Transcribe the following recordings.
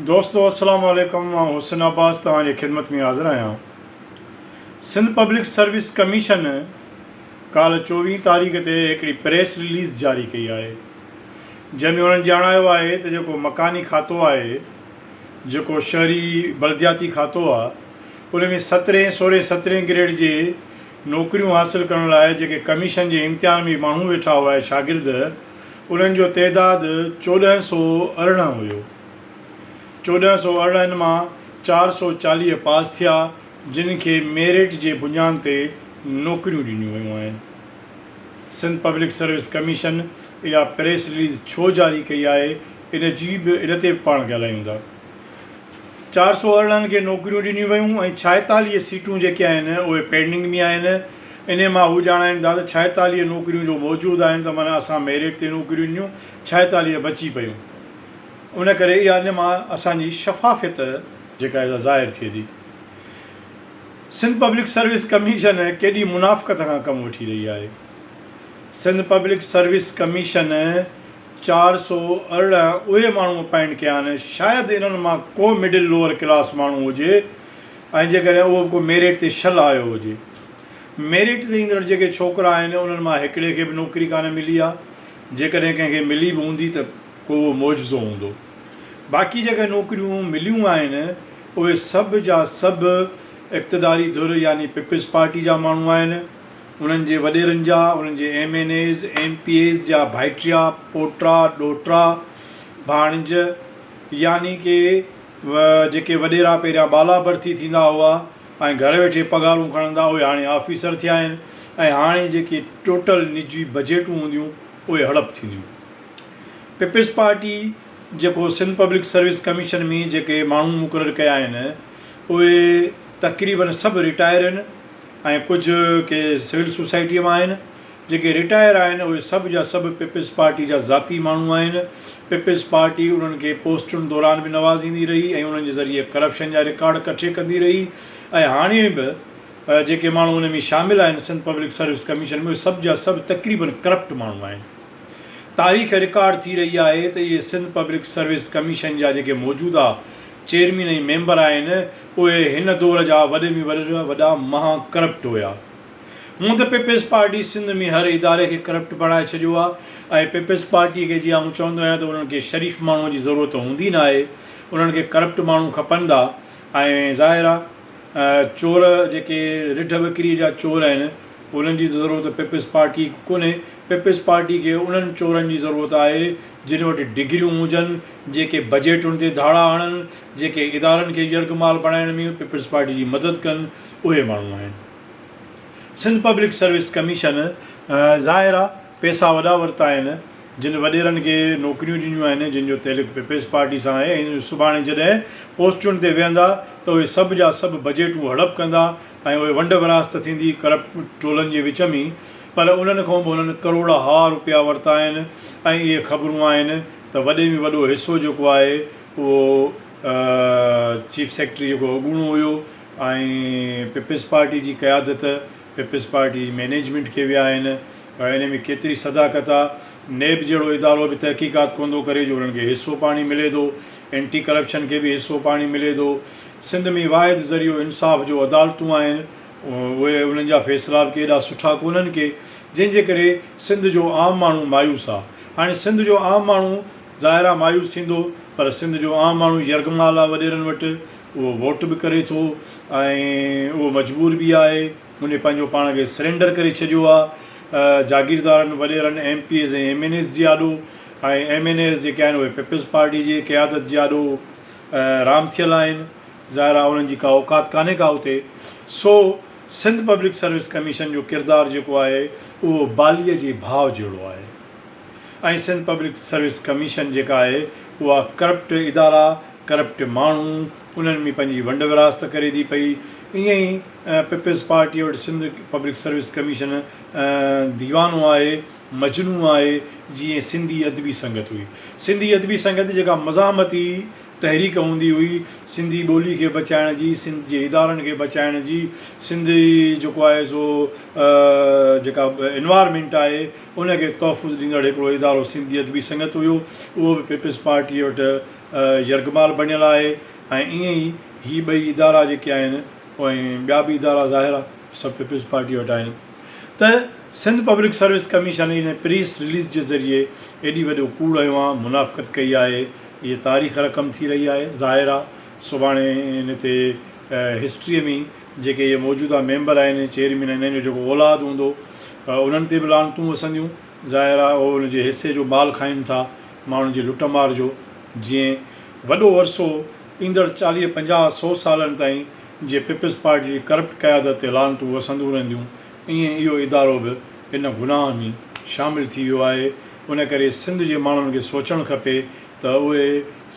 دوستو السلام عليڪم آئون حسن عباس توهان جي خدمت ۾ حاضر آهيان سنڌ پبلڪ سروس ڪميشن ڪالهه چوويهين تاريخ تي هڪڙي پريس رليز جاري ڪئي آهي جنهن ۾ انهن ڄاڻايو آهي ته جيڪو مڪاني کاتو آهي جيڪو شهري بلدياتي کاتو آهي ان ۾ سترهين سورهين سترهين گريڊ جي نوڪريون حاصل ڪرڻ لاء جيڪي ڪميشن جي امتحان ۾ ماڻهو ويٺا هئا شاگرد انهن جو تعداد چوڏهن سؤ ارڙهن هيو. چوڏهن سؤ ارڙهن مان چار سؤ چاليهه پاس ٿيا جن کي ميرٽ جي بنيان تي نوڪريون ڏنيون ويون آهن. سنڌ پبلڪ سروس ڪميشن اها پريس رليز ڇو جاري ڪئي آهي ان جي به ان تي به پاڻ ڳالهايون ٿا. چار سؤ ارڙهن کي نوڪريون ڏنيون ويون ۽ ڇائيتاليهه سيٽون جيڪي آهن اهي پينڊنگ ۾ آهن. انهيء مان هو ڄاڻائين ٿا ته ڇائيتاليهه نوڪريون جو موجود آهن ته معنيٰ اسان ميرٽ تي نوڪريون ڏنيون، ڇائيتاليهه بچي پيون. ان ڪري اها ان مان اسان جي شفافيت جيڪا سا ظاهر ٿئي ٿي. سنڌ پبلڪ سروس ڪميشن ڪيڏي منافقت کان ڪم وٺي رهي آهي. سنڌ پبلڪ سروس ڪميشن چار سؤ ارڙهن اهي ماڻهو اپائنٽ ڪيا آهن، شايد انهن مان ڪو مڊل لوئر ڪلاس ماڻهو هجي، ۽ جيڪڏهن اهو به ڪو ميرٽ تي شل آيو هجي. ميرٽ تي ايندڙ جيڪي ڇوڪرا آهن انهن مان هڪڙي کي به نوڪري ڪانه ملي آهي. جيڪڏهن ڪنهن کي ملي به هوندي ته ڪو اهو معجزو هوندو. باقي جيڪي نوڪريون مليون آهن اهي سڀ جا سڀ اقتداري ڌر يعني پيپلز پارٽي جا ماڻهو آهن. انهن جي وڏيرن جا، انهن جي M N As, M P As جا ڀائٽيا، پوٽا، ڏوهٽا، ڀاڻج يعني ڪي و جيڪي وڏيرا پهريان بالا برٿي ٿيندا هئا ۽ گهر ويٺي پگهارون کڻندا اهي هاڻي آفيسر ٿيا آهن ۽ هاڻي جيڪي ٽوٽل نجي بجيٽون هونديون اهي هڙپ ٿينديون. پيپلز پارٽي جيڪو سنڌ پبلڪ سروس ڪميشن ۾ جيڪي ماڻهو مقرر ڪيا آهن اهي تقريبن سڀ رٽائر آهن ۽ ڪجهه ڪي سول سوسائٽي مان آهن. جيڪي رٽائر آهن اهي سڀ جا سڀ پيپلز پارٽي جا ذاتي ماڻهو آهن، پيپلز پارٽي انهن کي پوسٽن دوران به نوازيندي رهي ۽ انهن جي ذريعي ڪرپشن جا رڪارڊ ڪٺي ڪندي رهي ۽ هاڻي به جيڪي ماڻهو ان ۾ شامل آهن سنڌ پبلڪ سروس ڪميشن ۾ اهي سڀ جا سڀ تقريباً ڪرپٽ ماڻهو آهن. تاريخ رڪارڊ ٿي رهي آهي ته اهي سنڌ پبلڪ سروس ڪميشن جا جيڪي موجوده چيئرمين ۽ ميمبر آهن اهي هن دور جا وڏي ۾ وڏا مها ڪرپٽ هيا. هونء ته پيپلز پارٽي سنڌ ۾ هر اداري کي ڪرپٽ بڻائي ڇڏيو آهي ۽ پيپلز پارٽي کي جي آئون چوندو آهيان ته انهن کي شريف ماڻهوء جي ضرورت هوندي ناهي انهن کي ڪرپٽ ماڻهو کپندا ۽ ظاهر آهي چور جيڪي رڍ وڪري جا چور آهن انهن جي ته ضرورت پيپلز پارٽي کي ڪونهي پيپلز پارٽي کي انهن چورن جي ضرورت آهي جن وٽ ڊگريون هجن جيڪي بجيٽن تي ڌاڙا هڻن جيڪي ادارن کي يرغمال بڻائڻ ۾ پيپلز پارٽي جي مدد ڪن اهي ماڻهو آهن. سنڌ پبلڪ سروس ڪميشن ظاهر آ پيسا وڏا ورتا آهن جن وڏيرن کي نوڪريون ڏنيون آهن جن جو تعلق پيپلز پارٽي سان آهي ۽ سڀاڻي جڏهن پوسٽن تي ويهندا ته اهي سڀ جا سڀ بجيٽون هڙپ ڪندا ۽ اهي ونڊ ورهاست ته ٿيندي ڪرپٽ ٽولن جي وچ ۾ پر انهن کان به انهن ڪروڙا ها روپيا ورتا آهن ۽ اهي خبرون آهن ته وڏي ۾ وڏو حصو جيڪو آهي اهو چيف سيڪريٽري جيڪو اڳوڻو هيو ۽ پيپلز پارٽي جي قيادت پيپلز پارٽي جي مينيجمينٽ کي ويا آهن ته ان ۾ ڪيتري صداقت آ نيب جهڙو ادارو به تحقيقات ڪون ٿو ڪري جو انهن کي حصو پاڻي ملي ٿو اينٽي ڪرپشن کي به حصو پاڻي ملي ٿو سنڌ ۾ واحد ذريعو انصاف جو عدالتون آهن اهي انهن جا فيصلا به ڪيڏا سٺا ڪونهن ڪي جنهن جي ڪري سنڌ جو عام ماڻهو مايوس آ هاڻي سنڌ جو عام ماڻهو ظاهر آ مايوس ٿيندو پر سنڌ جو عام ماڻهو يرغمال آ وڏيرن وٽ اهو ووٽ به ڪري ٿو ۽ اهو مجبور به آهي هن پنهنجو پاڻ کي سرينڊر ڪري ڇڏيو آهي جاگيردارن وڏيرن M P As ۽ M N As جي آڏو ۽ ايم اين ايز جيڪي آهن اهي پيپلز پارٽي جي قيادت جي آڏو رام ٿيل آهن ظاهر آهي انهن جي ڪا اوقات ڪانهي ڪا اتي سو سنڌ پبلڪ سروس ڪميشن جو ڪردار جيڪو آهي اهو باليء جي ڀاء جهڙو آهي ۽ سنڌ پبلڪ سروس ڪميشن جيڪا آهي اها ڪرپٽ ادارا، ڪرپٽ ماڻهو انهن ۾ پنهنجي ونڊ ورهاست ڪري ٿي پئي. ائين ئي پيپلز پارٽيء وٽ سنڌ پبلڪ سروس ڪميشن ديوانو آهي، مجنو آهي، جيئن سنڌي ادبي سنگت هئي. سنڌي ادبي سنگت جيڪا مزاحمتي تحريڪ هوندي هئي، سنڌي ٻولي کي بچائڻ جي، سنڌ جي ادارن کي بچائڻ جي، سنڌ جي جيڪو آهي سو جيڪا انوائرمينٽ آهي، ان کي تحفظ ڏيندڙ هڪڙو ادارو سنڌي ادبي سنگت هيو، اهو به پيپلز پارٽيء وٽ يرغمال بڻيل آهي ۽ ائين ئي هي ٻئي ادارا جيڪي آهن ۽ ٻيا به ادارا ظاهر آهي سڀ پيپلز پارٽيء وٽ آهن ته سنڌ پبلڪ سروس ڪميشن ان پريس رليز جي ذريعي ايڏي وڏو ڪوڙ هيوان منافقت ڪئي آهي اهي تاريخ رقم ٿي رهي آهي ظاهر آهي سڀاڻي ان تي هسٽريء ۾ جيڪي اهي موجوده ميمبر آهن ۽ چيئرمين آهن انهن جو جيڪو اولاد هوندو انهن تي به لعنتون وسنديون ظاهر آهي اهو ان جي حصي جو مال کائين ٿا ماڻهن جي لٽ مار جو جئين وڏو عرصو ايندڙ چاليهه پنجاهه سو سالن تائين جي پيپلز پارٽي جي ڪرپٽ قيادت تي لعنتون وسندون رهنديون ائين اهو ادارو به ان گناهه ۾ شامل ٿي ويو آهي ان ڪري سنڌ جي ماڻهن کي سوچڻ کپي ته اهي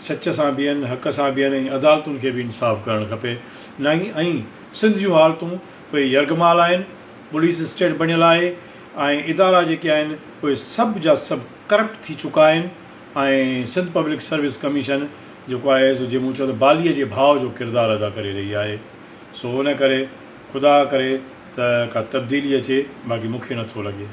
سچ سان بيهن، حق سان بيهن ۽ عدالتن کي به انصاف ڪرڻ کپي. نه ئي ائين سنڌ جون حالتون پوء يرغمال آهن، پوليس اسٽيٽ بڻيل آهي ۽ ادارا جيڪي آهن اهي سڀ جا سڀ ڪرپٽ ٿي چڪا آهن ۽ سنڌ پبلڪ سروس ڪميشن جيڪو آهي سو جي مون چيو ته باليء جي ڀاء جو ڪردار ادا ڪري رهي آهي سو ان ڪري خدا ڪري ته ڪا تبديلي اچي باقي مون کي نٿو لڳي.